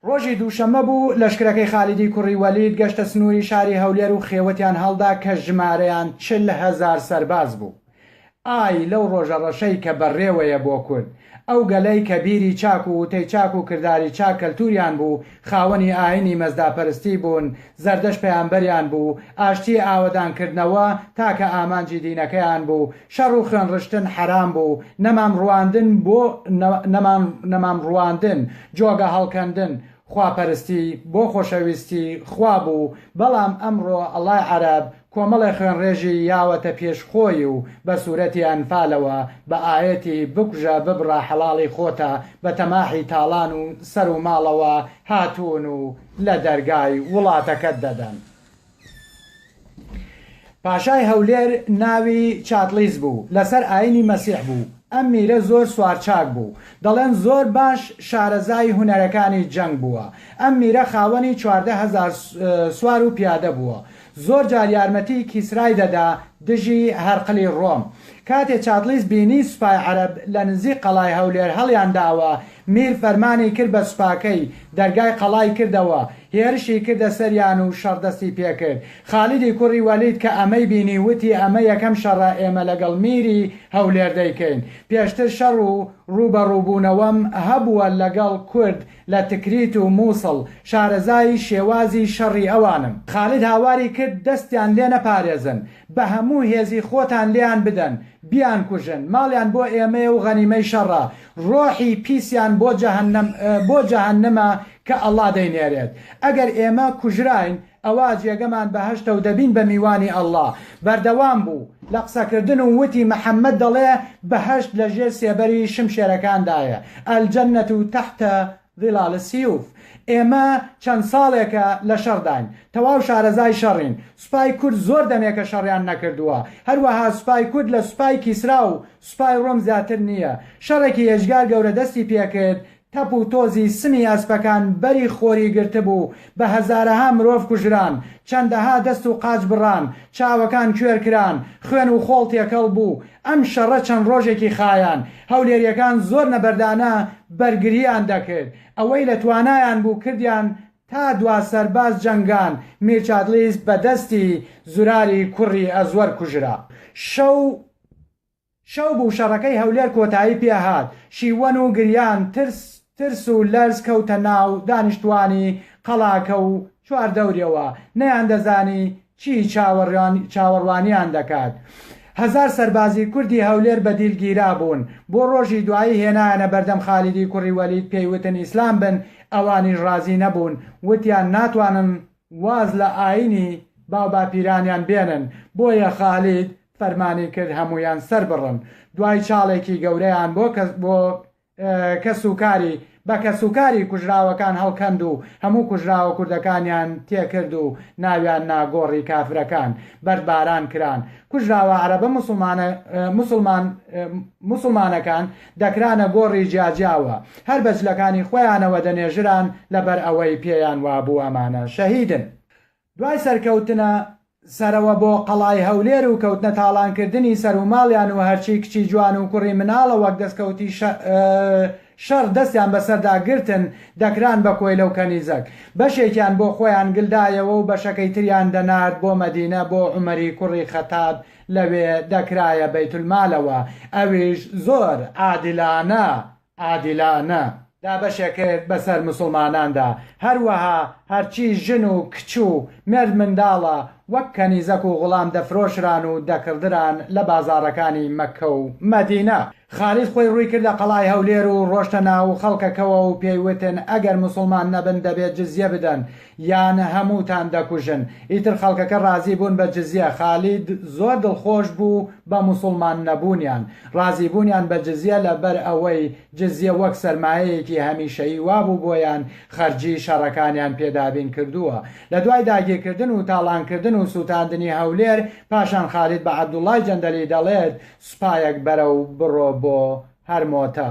ڕۆژی دووشەممە بوو، لەشکرەکەی خالیدی کوڕی وەلید گەشتە سنووری شاری هەولێر و خێوەتیان هەڵدا کە ژمارەیان چل هەزار سەرباز بوو. ئای لەو ڕۆژە ڕەشەی کە بەڕێوەیە بۆ کورد، ئەو گەلەی کە بیری چاک و وتەی چاک و کرداری چاک کەلتوریان بوو، خاوەنی ئاینی مەزداپەرستی بوون، زەردەشت پەیامبەریان بوو، ئاشتی ئاوەدانکردنەوە تاکە ئامانجی دینەکەیان بوو، شەڕ و خوێن ڕشتن حەرام بوو، نەمام ڕواندن بۆ نەمان نەمام ڕواندن، جۆگە هەڵکەندن، خوا پەرستی بۆ خۆشەویستی خوا بوو، بەڵام ئەمڕۆ ئەڵای عەرەب کۆمەڵێ خوێن ڕێژی یاوەتە پێش خۆی و بە سورەتی ئەنفالەوە بە ئایەتی بکوژە ببڕە حەڵاڵی خۆتە بە تەماحی تاڵان و سەر و ماڵەوە هاتوون و لە دەرگای وڵاتەکەت دەدەن. پاشای هەولێر ناوی چاتڵیس بوو لەسەر ئاینی مەسیح بوو ئەم میرە زۆر سوارچاک بوو دەڵێن زۆر باش شارەزای هونەرەکانی جەنگ بووە ئەم میرە خاوەنی چواردە هەزار سوار و پیادە بووە زۆر جار یارمەتی کیسرای دەدا دژی هەرقلی ڕۆم کاتێ چاتڵیس بینی سوپای عەرەب لە نزیک قەڵای هەولێر هەڵیان داوە میر فەرمانی کرد بە سوپاکەی، دەرگای قەڵای کردەوە، هێرشی کردە سەریان و شەڕ دەستی پێکرد. خالیدی کوڕی وەلید کە ئەمەی بینی وتی ئەمە یەکەم شەڕە ئێمە لەگەڵ میری هەولێر دەیکەین. پێشتر شەڕ و ڕووبەڕووبوونەوەم هەبووە لەگەڵ کورد لە تکریت و مووسڵ، شارەزای شێوازی شەڕی ئەوانم. خالید هاواری کرد دەستیان لێ نەپارێزن، بە هەموو هێزی خۆتان لێیان بدەن، بیانکوژن، ماڵیان بۆ ئێمەیە و غەنیمەی شەڕە، ڕۆحی پیسیان بۆ جەهەنەم بۆ جەهەنمە کە اللە دەینێرێت ئەگەر ئێمە کوژراین ئەوا جێگەمان بەهەشتە و دەبین بە میوانی اللە بەردەوام بوو لە قسەکردن و وتی محمد دەڵێ بەهەشت لە ژێر سێبەری شمشێرەکاندایە الجنە تحت ظلال سیوف، ئێمە چەند ساڵێکە لە شەڕداین، تەواو شارەزای شەڕین، سوپای کورد زۆر دەمێکە شەڕیان نەکردووە، هەروەها سوپای کورد لە سوپای کیسرا و سوپای ڕۆم زیاتر نییە، شەڕێکی ئێجگار گەورە دەستی پێکرد، تەپ و تۆزی سمی ئەسپەکان بەری خۆری گرتبوو، بە هەزارەها مرۆڤ کوژران، چەندەها دەست و قاچ بڕان، چاوەکان کوێر کران، خوێن و خۆڵ تێکەڵ بوو، ئەم شەڕە چەند ڕۆژێکی خایاند، هەولێریەکان زۆر نەبەردانە بەرگرییان دەکرد، ئەوەی لە توانایان بوو کردیان، تا دوا سەرباز جەنگان، میرچاتلیس بە دەستی زوراری کوڕی ئەزوەر کوژرا. شەو. شەو بوو شەڕەکەی هەولێر کۆتایی پێ هات، شیوەن و گریان ترس ترس و لەرز کەوتە ناو دانیشتوانی قەڵاکە و چواردەوریەوە، نەیان دەزانی چی چاوەڕوانیان دەکات. هەزار سەربازی کوردی هەولێر بە دیل گیرا بوون، بۆ ڕۆژی دوایی هێنایانە بەردەم خالیدی کوڕی وەلید پێی وتن ئیسلام بن، ئەوانیش ڕازی نەبوون، وتیان ناتوانن واز لە ئاینی باوباپیرانیان بێنن، بۆیە خالید فەرمانی کرد هەموویان سەربڕن، دوای چاڵێکی گەورەیان بۆ بۆ کەس و کاری بە کەس و کاری کوژراوەکان هەڵکەند و هەموو کوژراوە کوردەکانیان تێکرد و ناویان نا گۆڕی کافرەکان، بەردباران کران، کوژراوە عەرەبە موسڵمانە موسڵمان موسڵمانەکان، دەکرانە گۆڕی جیاجیا و هەر بە جلەکانی خۆیانەوە دەنێژران لەبەر ئەوەی پێیان وابوو ئەمانە شەهیدن. دوای سەرکەوتنە سەرەوە بۆ قەڵای هەولێر و کەوتنە تاڵانکردنی سەر و ماڵیان و هەرچی کچی جوان و کوڕی مناڵە وەک دەسکەوتی شەڕ دەستیان بەسەردا گرتن دەکران بە کۆیلە و کەنیزەک. بەشێکیان بۆ خۆیان گلدایەوە و بەشەکەی تریان دەنارد بۆ مەدینە بۆ عومەری کوڕی خەتاب لەوێ دەکرایە بەیتولمالەوە ئەویش زۆر عادلانە عادلانە دابەشێ کرد بەسەر موسڵماناندا هەروەها هەرچی ژن و کچ و مێرد منداڵە وەک کەنیزەک و غوڵام دەفرۆشران و دەکڕدران لە بازاڕەکانی مەککە و مەدینە. خالید خۆی ڕووی کردە قەڵای هەولێر و ڕۆشتە ناو خەڵکەکەوە و پێی وتن ئەگەر موسڵمان نەبن دەبێت جزیە بدەن یان هەمووتان دەکوژن، ئیتر خەڵکەکە ڕازی بوون بە جزیە، خالید زۆر دڵخۆش بوو بە موسڵمان نەبوونیان، ڕازی بوونیان بە جزیە لە بەر ئەوەی جزیە وەک سەرمایەیەکی هەمیشەیی وابوو بۆیان خەرجی شەڕەکانیان پێ دابین کردووە، لە دوای داگیرکردن و تاڵانکردن و سووتاندنی هەولێر پاشان خالید بە عەبدوڵڵای جەندەلی دەڵێت، سوپایەک بەرە و بڕۆ بۆ هەرمۆتە.